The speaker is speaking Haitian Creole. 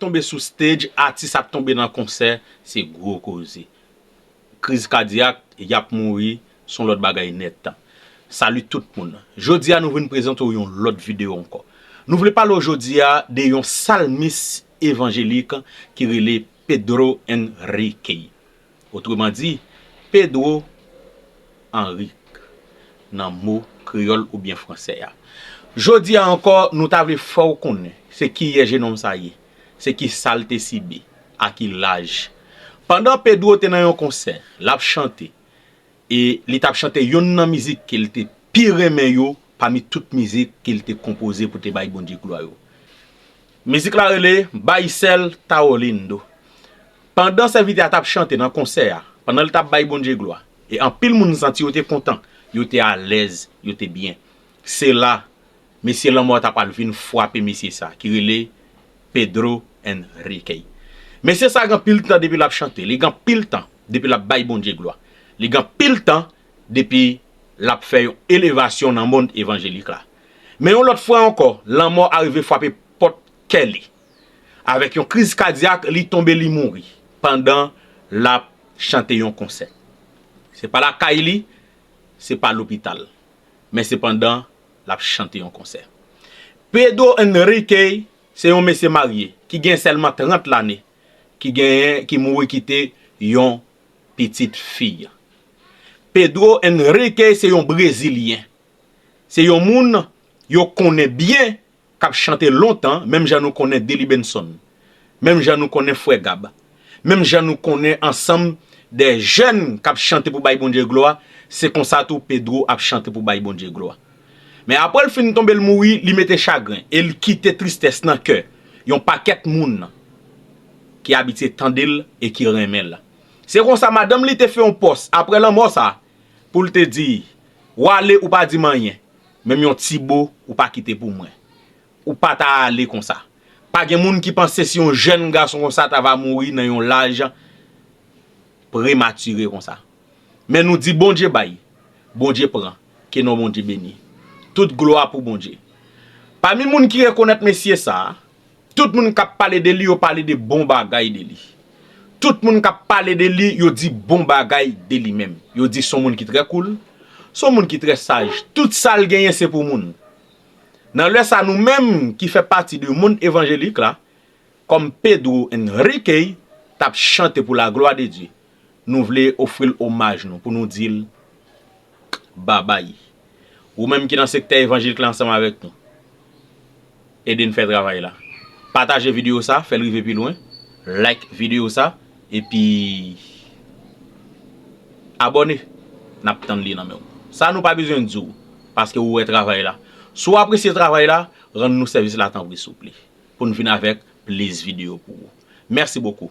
Tonbe sou stage atis ap tonbe nan konsè se gwo koze. Kriz kadyak, yap mouri son lòt bagay nèt. Salut tout moun. Jodi a nou vin prezante w yon lòt video ankò. Nou vle pale w jodi a de yon salmis evanjelik ki rele Pedro Enrique. Otreman di, Pedro Anric nan mo kreyòl oubyen fransè a. Jodi a ankò, nou ta vle fè w konnen se kiyè jenòm sa ye, se ki sa l te sibi, a ki laj. Pandan Pedro te nan yon konsè, l ap chante, E li t ap chante youn nan mizik ke l te pi renmen yo pami tout mizik ke l te konpoze pou te bay Bondye glwa yo. Mizik la rele Baisel Tao Lindo. Pandan sèvitè a t ap chante nan konsè a, pandan l t ap bay Bondye glwa, e anpil moun santi yo te kontan, yo te alèz, yo te byen. Se la, Mesye lanmò ta pwal vin fwape mesye sa ki rele Pedro Henriquez. Mesye sa gen anpil tan depi lap chante, li gen anpil tan depi lap bay Bondye glwa, li gen anpil tan depi lap fè yon elevasyon nan mond evanjelik la. Men yon lòt fwa ankò, lanmò arive fwape pòt kè li. Avèk yon kriz kadyak, li tonbe li mouri pandan lap chante yon konsè. Se pa lakay li, se pa lopital, men se pandan l ap chante yon konsè. Pedro Enrique se yon mesye marye ki gen sèlman 30 lane ki genyen ki mouri kite yon pitit fiy. Pedro Enrique se yon brezilyen. Se yon moun yo konnen byen k ap chante lontan menm jan nou konnen Dely Benson, menm jan nou konnen Frè Gab, menm jan nou konnen ansanm de jèn k ap chante pou bay Bondye glwa, se konsa tou Pedro ap chante pou bay Bondye glwa. Men apre l fin tonbe l mouri, li mete chagren e l kite tristès nan kè yon pakèt moun ki abitye tande l e ki renmen l. Se konsa madanm li te fè yon pòs apre lanmò sa Pou l te di, W ale ou pa di m anyen, menm yon ti bo ou pa kite pou mwen. Ou pa ta ale konsa. Pa gen moun ki panse si yon jèn gason konsa ta va mouri nan yon laj prematire konsa. Men nou di Bondye bay, Bondye pran, ke non Bondye beni. Tout glwa pou Bondye. Pami moun ki rekonèt mesye sa a. Tout moun kap pale de li yo pale de bon bagay de li. Tout moun kap pale de li yo di bon bagay de li menm. Yo di son moun ki trè koul, son moun ki trè saj. Tout sal genyen se pou moun. Nan lè sa nou menm ki fè pati de mond evanjelik la, kòm Pedro Enrique tap chante pou la glwa de Dye. Nou vle ofri l omaj nou pou nou di l kbabay. Ou menm ki nan sektè evanjelik la ansanm avèk nou. Ede n fè travay la. Pataje videyo sa, fè l rive pi lwen. Like videyo sa, epi abòne. N ap tann li nan men w. Sa nou pa bezwen di w, paske ou wè travay la. Si w apresye travay la, rann nou sèvis la tanpri souple. Pou n vin avèk plis videyo pou ou. Mèsi bokou.